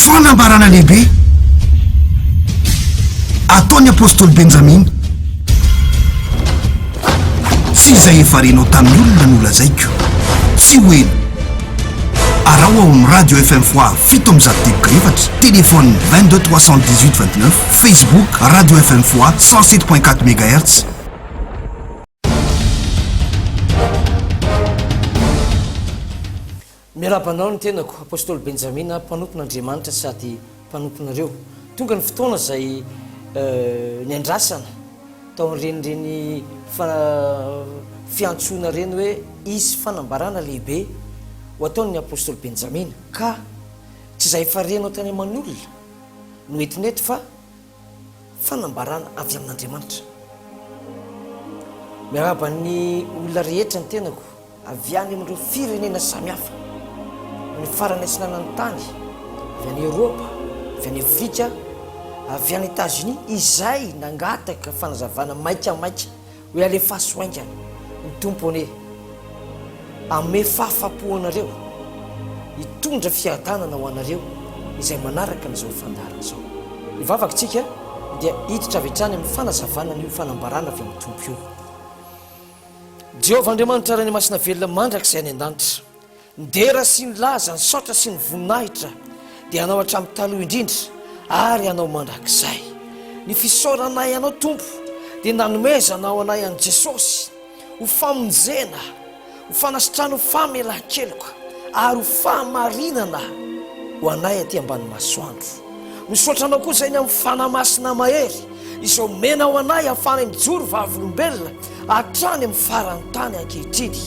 Fanambarana lehibe ataon'ny Apostoly Benjamina, Tsy izay efa renao tamin'ny olona no lazaiko, tsy ho ela. Araho ao amin'ny radio FM Foix fito amby zato debokra efatra, téléphone 22 318 29, Facebook radio FM Foix 107.4 mégahertz. Miarahaba anao ny tenako, Apostoly Benjamina, mpanompon' Andriamanitra sady mpanomponareo. Tonga ny fotoana izay niandrasana tao amin'ireny fiantsoana ireny hoe hisy fanambarana lehibe ho ataon'ny Apostoly Benjamina, ka tsy izay efa renao tany aman'olona no entin'eto fa Fanambarana avy amin'Andriamanitra. Miarahaba ny olona rehetra ny tenako avy any amin'ireo firenena samihafa, amin'ny farany atsinanan'ny tany, avy any Eoropa, avy any Afrika, avy any Etazonia, izay nangataka fanazavana maikamaika Hoe alefaso haingana ny Tompo anie hanome fahafapo anareo hitondra fiadanana ho anareo izay manaraka an'izao fandaharana izao. Ny vavakintsika dia hiditra avy hatrany amin'ny fanazavana an'io fanambarana avy amin'ny Tompo io. Jehovah Andriamanitra Ray ny Masina Velona mandrakizay any an-danitra. Ny dera sy ny laza, ny saotra sy ny voninahitra dia Anao hatramin'ny taloha indrindra ary Anao mandrakizay. Ny fisaoranay Anao Tompo dia nanomezana ho anay an'i Jesosy ho famonjena, ho fanasitrana, ho famelan-keloka ary ho fahamarinana ho anay aty ambany masoandro. Misaotra Anao koa izay ny amin'ny fanahy masina mahery izay omena ho anay hahafahanay mijoro vavolombelona hatrany amin'ny faran'ny tany ankehitriny,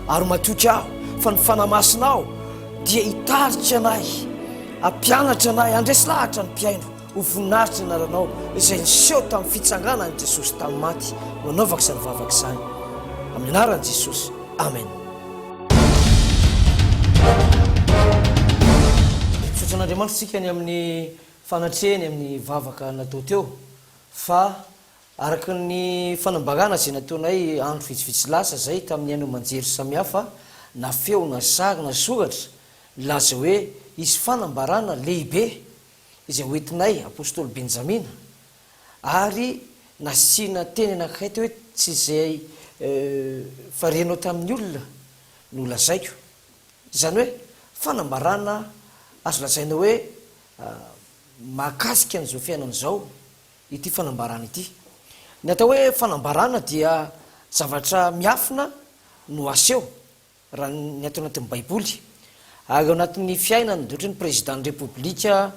ary matoky aho fa ny Fanahy Masinao dia hitarika anay, hampianatra anay, handresy lahatra ny mpihaino ho voninahitr'ny Anaranao izay niseho tamin'ny fitsanganan'i Jesosy tamin'ny maty no hanaovako izany vavaka izany, amin'ny Anaran'i Jesosy, Amen. Misaotra an'Andriamanitra isika ny amin'ny fanatrehany amin'ny vavaka natao teo fa Araka ny fanambarana izay nataonay andro vitsivitsy lasa izay tamin'ny haino aman-jery samihafa na feo na sary na soratra, nilaza hoe hisy fanambarana lehibe izay hoentinay Apostoly Benjamina ary nasiana teny anankiray teo hoe tsy izay efa renao tamin'ny olona no lazaiko. Izany hoe fanambarana azo lazaina hoe mahakasika an'izao fiainana izao. ity fanambarana ity. Ny atao hoe fanambarana dia zavatra miafina no aseho, raha ny ato anatin'ny Baiboly. Ary ao anatin'ny fiainany, dia ohatran'ny Prezidan'ny Repoblika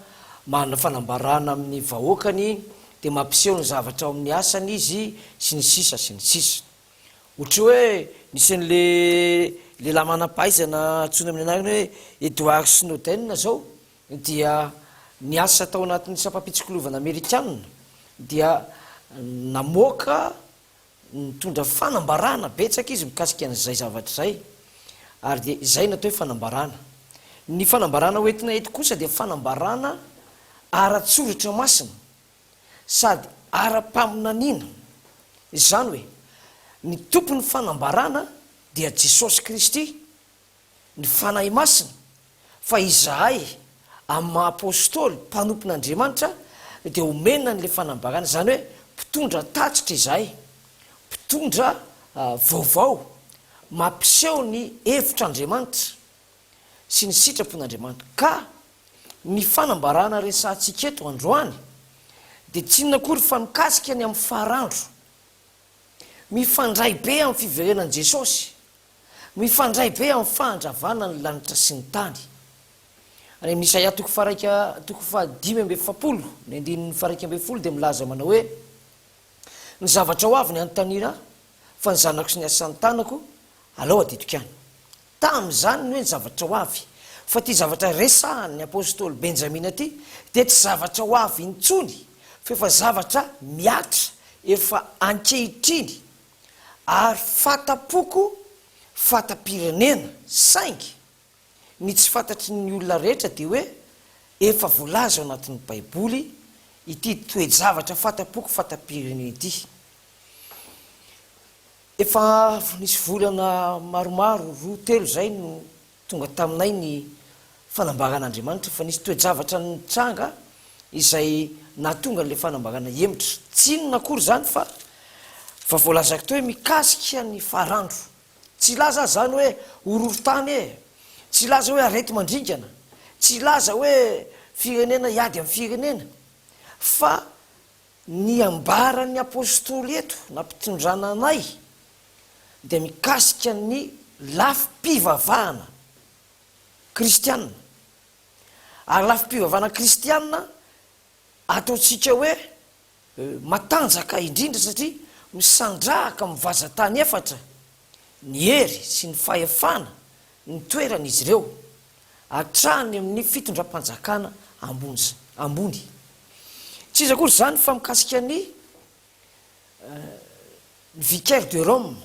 manana fanambarana amin'ny vahoakany, dia mampiseho ny zavatra ao amin'ny asany izy, sy ny sisa, sy ny sisa. Ohatry hoe nisy an'ilay lehilahy manam-pahaizana antsoina amin'ny anarana hoe Edward Snowden izao, dia niasa tao anatin'ny sampam-pitsikilovana amerikana dia namoaka nitondra fanambarana betsaka izy mikasika an'izay zavatra izay ary dia izay no atao hoe fanambarana. Ny fanambarana hoentina eto kosa dia fanambarana ara-tsoratra masina sady ara-paminaniana, izany hoe ny tompon'ny fanambarana dia Jesosy Kristy ny Fanahy Masina fa izahay amin'ny maha Apostoly mpanompon'Andriamanitra dia omena an'ilay fanambarana, izany hoe mpitondra tatitra izahay, mpitondra vaovao mampiseho ny hevitr'Andriamanitra sy ny sitrapon'Andriamanitra. Ka ny fanambarana resahantsika eto androany dia tsy inona akory fa mikasika ny amin'ny farandro, mifandray be amin'ny fiverenan'i Jesosy. Mifandray be amin'ny fahadravana ny lanitra sy ny tany. Any amin'ny Isaia toko faharaika toko fahadimy amby efapolo ny andininy faharaika ambin'ny folo dia milaza manao hoe, Ny zavatra ho avy ny hanontaniana ahy, fa ny zanako sy ny asan'ny tanako, alao adidiko ihany. Tamin'izany ny hoe ny zavatra ho avy, fa ity zavatra resahan'ny apostoly Benjamina ity dia tsy zavatra ho avy intsony, fa efa zavatra mihatra efa ankehitriny. ary fata-poko fata-pirenena saingy ny tsy fantatry ny olona rehetra dia hoe efa voalaza ao anatin'ny baiboly ity toe-javatra fata-poko fata-pirenena ity. Efa nisy volana maromaro roa telo izay no Tonga taminay ny fanambaran'Andriamanitra fa nisy toe-javatra nitranga izay nahatonga an'ilay fanambarana hihemotra. Tsy inona akory izany fa fa voalazako teo hoe mikasika ny faran'dro. Tsy hilaza aza izany hoe horohorontany e! Tsy hilaza hoe areti-mandringana. Tsy hilaza hoe firenena hiady amin'ny firenena. Fa ny ambaran'ny Apostoly eto, nampitondrana anay, dia mikasika ny lafim-pivavahana kristiana. Ary lafim-pivavahana kristiana ataontsika hoe matanjaka indrindra satria misandrahaka amin'ny vazan-tany efatra ny hery sy ny fahefana nitoeran'izy ireo hatrany amin'ny fitondram-panjakana ambony. Tsy iza akory izany fa mikasika ny. Ny vicaire de Rome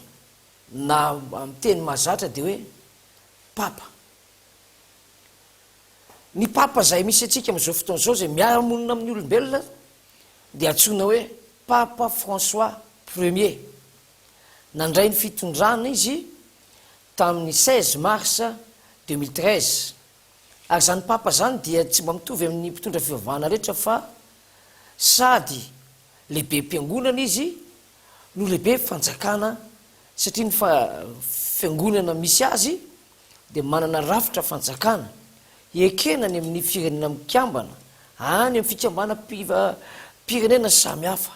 na amin'ny teny mahazatra dia hoe papa. Ny papa izay misy antsika amin'izao fotoana izao izay miara-monina amin'ny olombelona dia antsoina hoe papa François premier. Nandray ny fitondrana izy tamin'ny seize mars deux mille treize ary izany papa izany dia tsy mba mitovy amin'ny mpitondra fivavahana rehetra fa sady lehibem-piangonana izy no lehibe fanjakana satria ny fiangonana misy azy dia manana rafitra fanjakana ekena any amin'ny firenena mikambana any amin'ny fikambanam-pirenena samy hafa.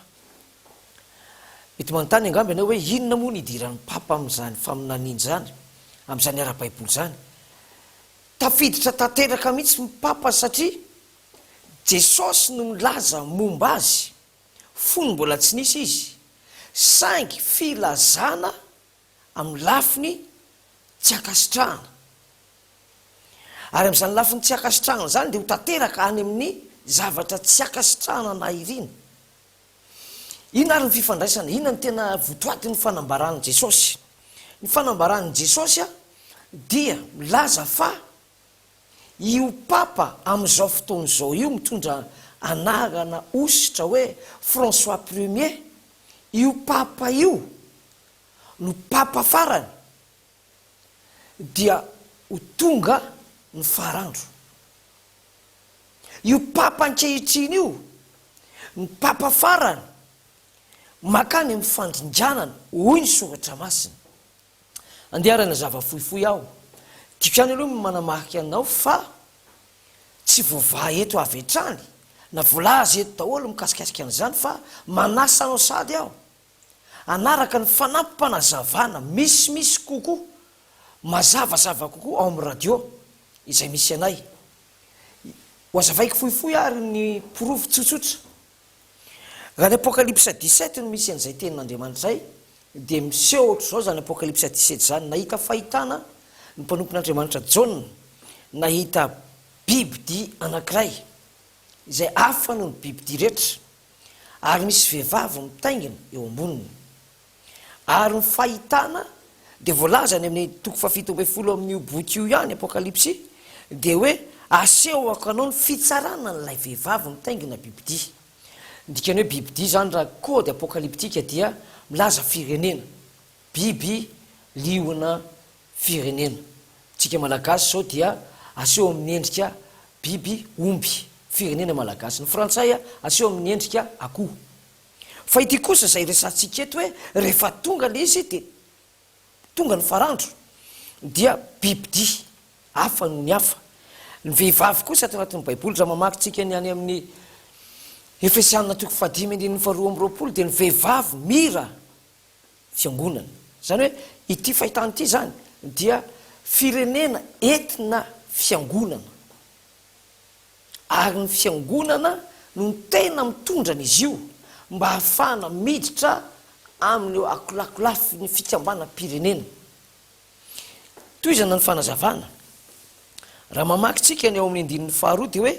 Mety manontany angamba ianao hoe inona moa ny idiran'ny Papa amin'izany faminaniana izany, amin'izany ara-baiboly izany? Tafiditra tanteraka mihitsy ny Papa satria Jesosy no milaza momba Azy, fony mbola tsy nisy Izy, saingy filazana amin'ny lafiny tsy ankasitrahana. Ary amin'izany lafiny tsy ankasitrahana izany dia ho tanteraka any amin'ny zavatra tsy ankasitrahana na irina. Inona ary ny fifandraisana? Inona no tena votoatin'ny fanambaran'i Jesosy? Ny fanambaran'i Jesosy dia milaza fa Io Papa amin'izao fotoana izao io mitondra anarana hosotra hoe François Premier, io Papa io no Papa farany dia ho tonga ny farandro. Io Papa ankehitriny io, ny Papa farany, mankany amin'ny fandringanana, hoy ny Soratra Masina. Andeharana zava fohifohy aho. Tiako ihany aloha ny manamarika anao fa tsy voavaha eto avy hatrany na voalaza eto daholo ny mikasikasika an'izany fa manasa anao sady aho hanaraka ny fanampim-panazavana misimisy kokoa, mazavazava kokoa ao amin'ny radio izay misy anay. Ho hazavaiko fohifohy ary ny porofo tsotsotra. Raha ny Apokalypsa dix-sept no misy an'izay tenin'Andriamanitra izay, dia miseho hoatr'izao izany Apokalypsa dix-sept izany, Nahita fahitana ny mpanompon'Andriamanitra Jaona, nahita bibidia anankiray, izay hafa noho ny bibidia rehetra, ary misy vehivavy mitaingina eo amboniny. Ary ny fahitana dia voalaza any amin'ny toko fahafito ambin'ny folo amin'io boky io ihany, Apokalypsy, dia hoe asehoko anao ny fitsarana an'ilay vehivavy nitaingina bibidia. Ny dikan'ny hoe bibidia izany raha kôdy apôkaliptika dia milaza firenena, biby liona firenena. Amintsika Malagasy izao dia aseho amin'ny endrika biby omby, firenena malagasy. Ny frantsay aseho amin'ny endrika akoho. Fa ity kosa izay resahantsika eto hoe rehefa tonga ilay izy dia tonga ny farandro dia bibidia hafa noho ny hafa. Ny vehivavy kosa ato anatin'ny baiboly raha mamaky tsika ny any amin'ny Efesiana toko fahadimy andininy faharoa amby roapolo dia ny vehivavy mira fiangonana. Izany hoe ity fahitana ity izany dia firenena entina fiangonana. ary ny Fiangonana no tena mitondra an'izy io mba hahafahana miditra amin'ireo akolakolafin'ny fikambanam-pirenena. Tohizana ny fanazavana. Raha mamaky tsika ny ao amin'ny andininy faharoa dia hoe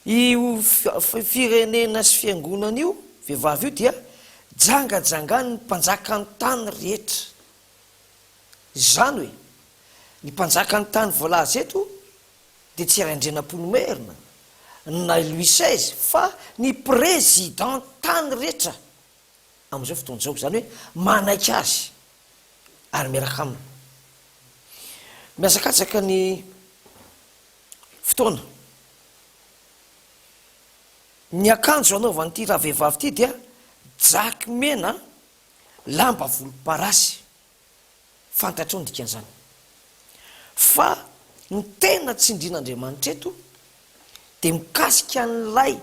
io firenena sy fiangonana io, vehivavy io dia jangajangan'ny mpanjakan'ny tany rehetra. Izany hoe, ny mpanjakan'ny tany voalaza eto dia tsy Raindrianampoa no Maire-na, na i Louis seize, fa ny Président tany rehetra amin'izao fotoana izao, izany hoe manaiky azy ary miaraka aminy. Mihazakatsaka ny fotoana. Ny akanjo anaovan'ity ravehivavy ity dia jaky mena lamba volomparasy. Fantatrao ny dikan'izany. Fa ny tena tsindrian'Andriamanitra eto dia mikasika an'ilay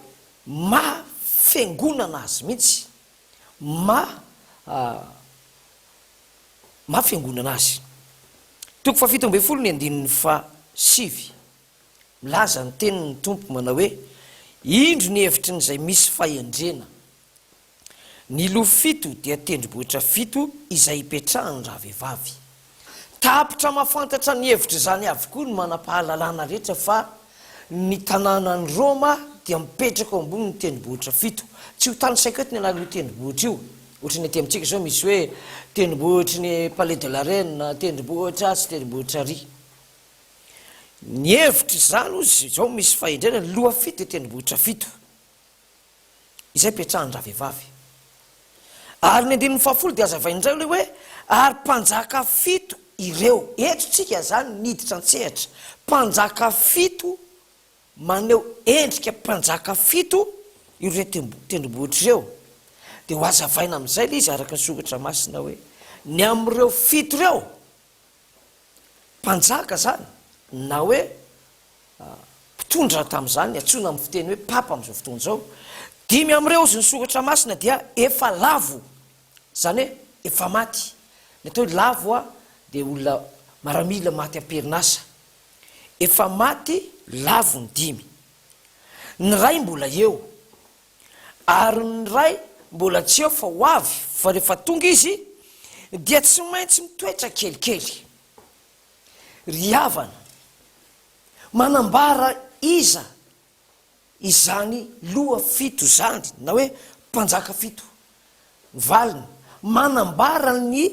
maha Fiangonana Azy mihitsy, maha maha Fiangonana Azy. Toko fahafito ambin'ny folo ny andininy fahasivy, milaza ny tenin'ny Tompo manao hoe, Indro ny hevitry ny izay misy fahendrena. Ny lofo fito dia tendrombohitra fito izay ipetrahan-dravehivavy. Tapitra mahafantatra ny hevitr'izany avokoa ny manam-pahalalana rehetra fa ny tanànan'i Roma dia mipetraka eo ambonin'ny tendrombohitra fito. Tsy ho tany saiko eto ny anaran'io tendrombohitra io. Ohatra ny aty amintsika izao misy hoe tendrombohitry ny Palais de la Reine, tendrombohitra atsy, tendrombohitra ary. Ny hevitr'izany hozy izao misy fahendrena, ny loha fito dia tendrombohitra fito. izay petrahan-dravehivavy. Ary ny andininy fahafolo dia hazavainy indray ilay hoe, Ary mpanjaka fito ireo. Eto tsika izany niditra an-tsehatra. Mpanjaka fito, maneho endrika mpanjaka fito ireo tendrombohitra ireo. Dia ho hazavaina amin'izay ilay izy araka ny soratra masina hoe, Ny amin'ireo fito ireo, mpanjaka izany na hoe mpitondra tamin'izany, antsoina amin'ny fiteny hoe papa amin'izao fotoana izao. Dimy amin'ireo ozin'ny Soratra Masina dia efa lavo, izany hoe efa maty. Ny atao hoe lavo dia olona maramila maty am-perinasa. Efa maty lavo ny dimy. Ny iray mbola eo. Ary ny Ray mbola tsy eo fa ho avy, fa rehefa tonga Izy, dia tsy maintsy mitoetra kelikely. Ry havana, manambara iza izany loha fito izany, na hoe mpanjaka fito? Ny valiny, manambara ny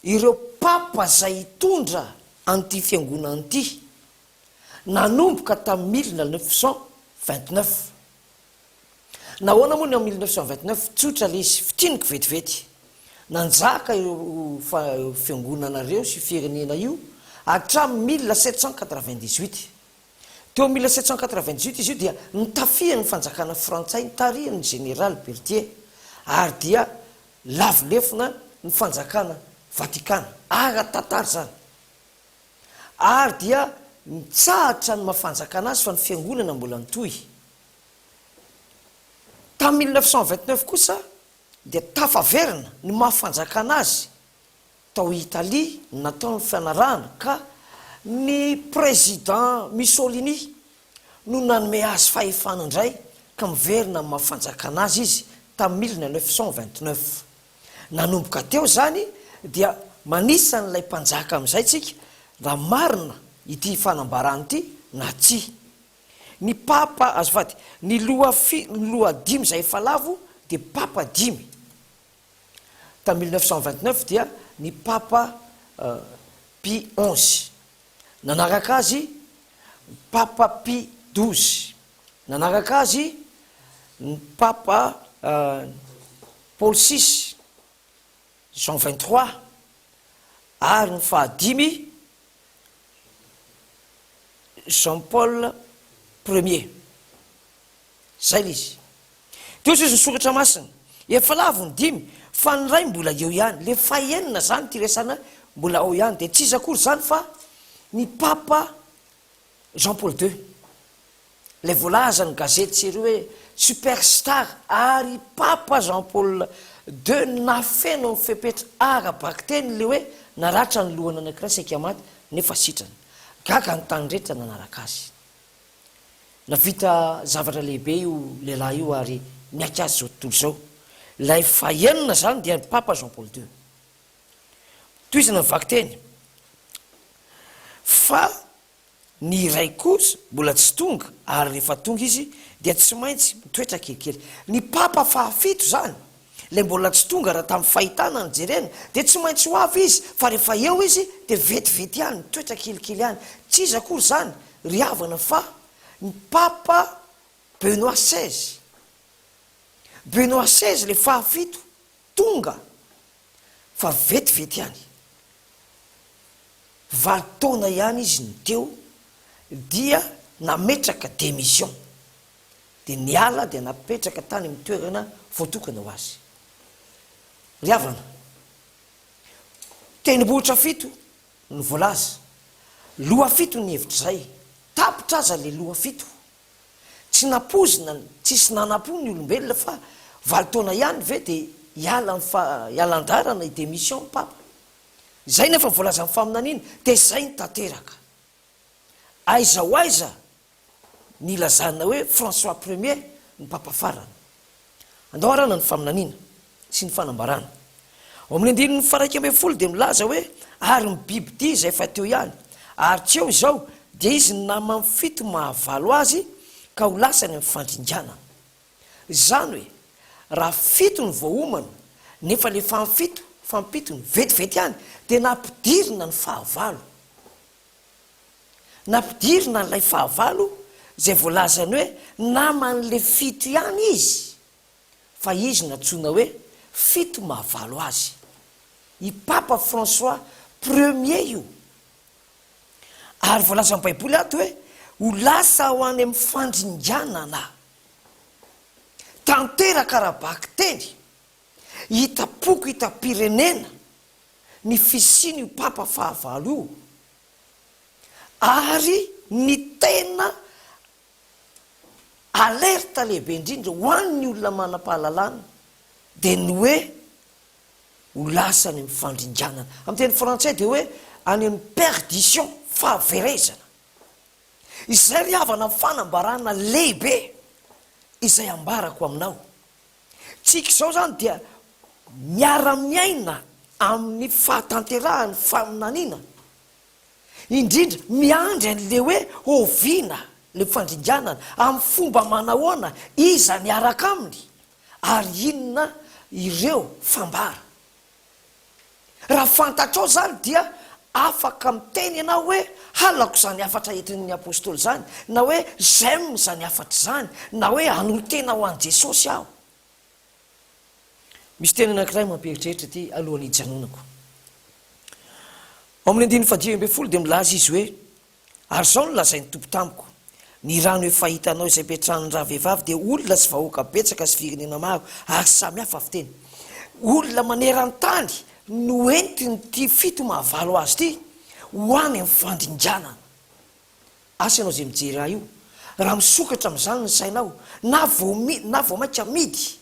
ireo Papa izay hitondra an'ity Fiangonana ity, nanomboka tamin'ny mille neuf cent vingt-neuf. Nahoana moa ny ao mille neuf cent vingt neuf? Tsotra ilay izy, fintiniko vetivety. Nanjaka io fiangonana ireo sy io firenena io hatramin'ny mille sept cent quatre vingt dix huit. Teo amin'ny mille sept cent quatre vingt dix huit izy io dia notafihan'ny fanjakana frantsay nitarihan'ny Jeneraly Berthier ary dia lavo lefona ny fanjakana Vatikana. Ara-tantara izany. ary dia mitsahatra ny maha fanjakana azy fa ny fiangonana mbola nitohy. Tamin'ny mille neuf cent vingt neuf kosa dia tafaverina ny maha fanjakana azy tao Italie ny nataon'ny fianarahana ka ny Président Mussolini no nanome azy fahefana indray ka miverina amin'ny maha fanjakana azy izy tamin'ny mille neuf cent vingt neuf. Nanomboka teo izany dia manisa an'ilay mpanjaka amin'izay tsika mba marina ity fanambarany ity na tsia. Ny papa, azafady, ny loha fi, ny loha dimy izay efa lavo dia papa dimy. Tamin'ny mille neuf cent vingt-neuf dia ny papa Pie onze. Nanaraka azy ny papa Pie douze. Nanaraka azy ny papa Paul six, Jean vingt trois, ary ny fahadimy, Jean Paul premier. Zay le izy. Teo sisa ny soratra masina. Efa lavo ny dimy fa ny iray mbola eo ihany. Le fahenina zany ty resana mbola ao ihany de tsy iza akory zany fa ny papa Jean Paul ii, ilay voalazan'ny gazety sy ery hoe super star ary i Papa Jean Paul ii no nahafeno ny fepetra ara-bakiteny ilay hoe naratra ny lohana anankiray saika maty nefa sitrana. Gaga ny tany rehetra nanaraka azy. Nahavita zavatra lehibe io lehilahy io ary miaiky azy izao tontolo izao. Ilay fahenina izany dia ny Papa Jean Paul ii. Tohizana ny vakiteny fa ny iray kosa mbola tsy tonga ary rehefa tonga izy dia tsy maintsy mitoetra kelikely. Ny papa fahafito izany, ilay mbola tsy tonga raha tamin'ny fahitana no jerena, dia tsy maintsy ho avy izy fa rehefa eo izy dia vetivety ihany mitoetra kelikely ihany. Tsy iza akory izany ry havana fa ny papa Benoît seize. Benoît seize ilay fahafito. Tonga fa vetivety ihany, valo taona ihany izy no teo, dia nametraka démission, dia niala dia napetraka tany amin'ny toerana voatokana ho azy. Ry havana, tendrombohitra fito no voalaza, lohafito ny hevitra izay, tapitra aza ilay lohafito. Tsy nampoizina ny tsisy nanampo ny olombelona fa valo taona ihany ve dia hiala ny fa hiala andrarana hi demission ny papa? Izay ny efa voalazan'ny faminaniana dia izay ny tanteraka. Aiza ho aiza ny ilazana hoe François premier ny papa farany? Andao harahana ny faminaniana sy ny fanambarana. Ao amin'ny andininy faharaika ambin'ny folo dia milaza hoe, Ary ny bibidia izay efa teo ihany, ary tsy eo izao, dia izy ny namany fito mahavalo azy, ka ho lasa any amin'ny fandringanana. Izany hoe, raha fito no voaomana, nefa ilay fahafito, fampitony, vetivety ihany, dia nampidirina ny fahavalo. Nampidirina an'ilay fahavalo izay voalazany hoe naman'ilay fito ihany izy, fa izy nantsoina hoe fito mahavalo azy. I Papa François premier io. Ary voalazan'ny Baiboly ato hoe ho lasa ho any amin'ny fandringanana. Tanteraka ara-bakiteny, hitam-poko, hitam-pirenena. ny fisian'io Papa fahavalo io ary ny tena alerte lehibe indrindra ho an'ny olona manam-pahalalana dia ny hoe ho lasa any amin'ny fandringanana, amin'ny teny frantsay dia hoe any amin'ny perdition, fahaverezana. Izay ry havana ny fanambarana lehibe izay ambarako aminao. Tsika izao izany dia miara-miaina amin'ny fahatanterahan'ny faminaniana, indrindra miandry an'ilay hoe oviana ilay fandringanana, amin'ny fomba manahoana, iza miaraka aminy ary inona ireo fambara. Raha fantatrao izany dia afaka miteny ianao hoe, Halako izany hafatra entin'ny apostoly izany, na hoe J'aime izany hafatra izany, na hoe Hanontena ho an'i Jesosy aho. Misy teny anankiray mampieritreritra ity alohan'ny hijanonako. Ao amin'ny andininy fahadimy ambin'ny folo dia milaza izy hoe, Ary izao no lazain'ny Tompo tamiko, Ny rano efa hitanao izay ipetrahan'ny ravehivavy dia olona sy vahoaka betsaka sy firenena maro ary samy hafa fiteny. Olona maneran-tany no entin'ity fito mahavalo azy ity ho any amin'ny fandringanana. Asa ianao izay mijery ahy io, raha misokatra amin'izany ny sainao, na vao na vao mainka midy,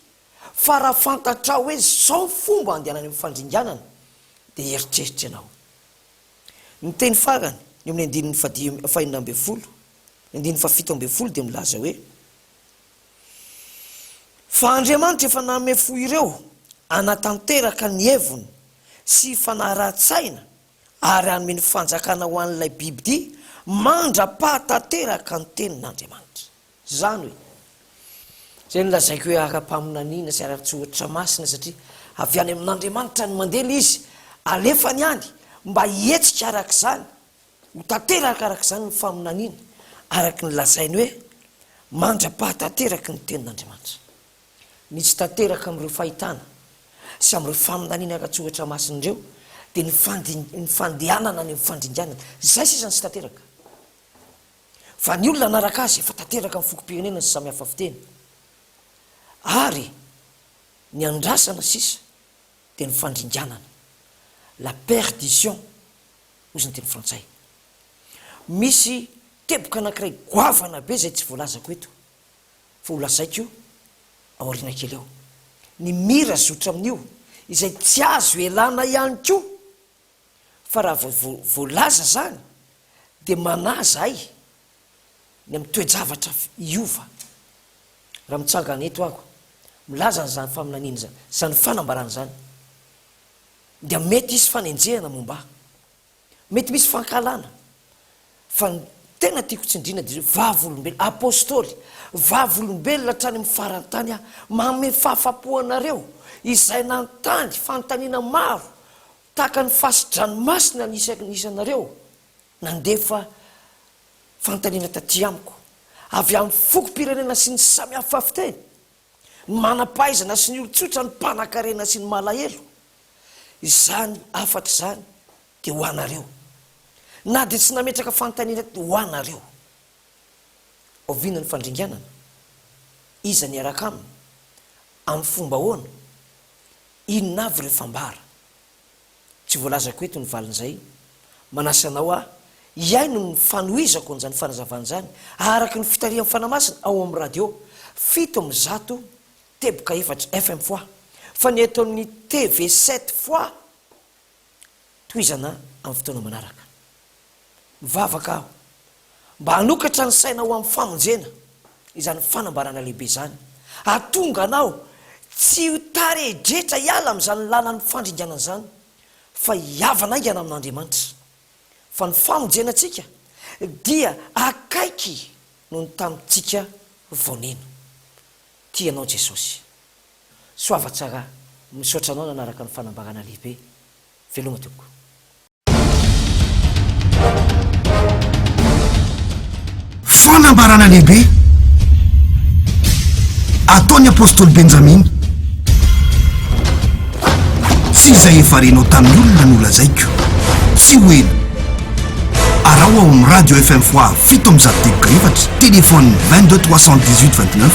fa raha fantatrao hoe izao ny fomba handehanany amin'ny fandringanana, dia hieritreritra ianao. Ny teny farany, eo amin'ny andininy fahadimy, fahenina ambin'ny folo, ny andininy fahafito ambin'ny folo dia milaza hoe, Fa Andriamanitra efa nanome fo ireo hanatanteraka ny heviny sy fanarahan-tsaina ary hanome ny fanjakana ho an'ilay bibidia mandra-pahatanteraka ny tenin'Andriamanitra. Izany hoe, izay nolazaiko hoe ara-paminaniana sy ara-tsoatra masina satria avy any amin'Andriamanitra ny mandely izy, alefany any mba hihetsika araka izany, ho tanteraka araka izany ny faminaniana, araka ny lazainy hoe mandra-pahatanteraky ny Tenin'Andriamanitra. Misy tanteraka amin'ireo fahitana sy amin'ireo faminaniana ara-tsoatra masina ireo dia ny fandehanana any amin'ny fandringanana. Izay sisa no tsy tanteraka. Fa ny olona hanaraka azy efa tanteraka amin'ny fokom-pirenena sy samy hafa fiteny, ary ny andrasana sisa dia ny fandringanana, la perdition, hozy ny teny frantsay. Misy teboka anankiray goavana be izay tsy voalazako eto, fa holazaiko aoriana kely eo. Ny mira zotra amin'io, izay tsy azo elana ihany koa. fa raha vao vo voalaza zany de manahy zahay ny am toe-javatra hiova raha mitsangana eto aho milaza an zany faminaniana zany zany fanambarana zany dia mety hisy fanenjehana momba ahy mety misy fankahalana Fa ny tena tiako tsindriana dia hoe vavolombelona, apostoly, vavolombelona hatrany amin'ny faran-tany aho, manome fahafapo anareo izay nanontany fanontaniana maro tahaka ny fasi-dranomasina ny isan' isanareo nandefa fanontaniana taty amiko, avy amin'ny fokom-pirenena sy ny samihafa fiteny, ny manam-pahaizana sy ny olon-tsotra, ny mpanan-karena sy ny malahelo. Izany hafatra izany dia ho anareo, na dia tsy nametraka fanontaniana akory ho anareo. Oviana ny fandringanana? Iza ny hiaraka aminy? Amin'ny fomba ahoana? Inona avy ireo fambara? Tsy voalazako eto ny valin'izay. Manasa anao aho hihaino ny fanohizako an'izany fanazavana izany araka ny fitarihan'ny Fanahy Masina ao amin'ny radio fito amby zato teboka efatra FM fois, fa ny eto amin'ny TV sept fois Tohizana amin'ny fotoana manaraka. Mivavaka aho mba hanokatra ny saina ho amin'ny famonjena izany fanambarana lehibe izany, hahatonga anao tsy ho taredretra hiala amin'izany lalan'ny fandringanana izany, fa hihavana haingana amin'Andriamanitra. Fa ny famonjenantsika dia akaiky noho ny tamintsika vao nino. Tia anao Jesosy. Soava tsara, misaotra anao nanaraka ny fanambarana lehibe. Veloma tompoko. Fanambarana lehibe ataon'ny Apostoly Benjamina. Tsy izay efa renao tamin'ny olona no lazaiko. Tsy ho ela. Araho ao amin'ny Radio FM Foire fito amby zato degre efatra, téléphone 22 318 29.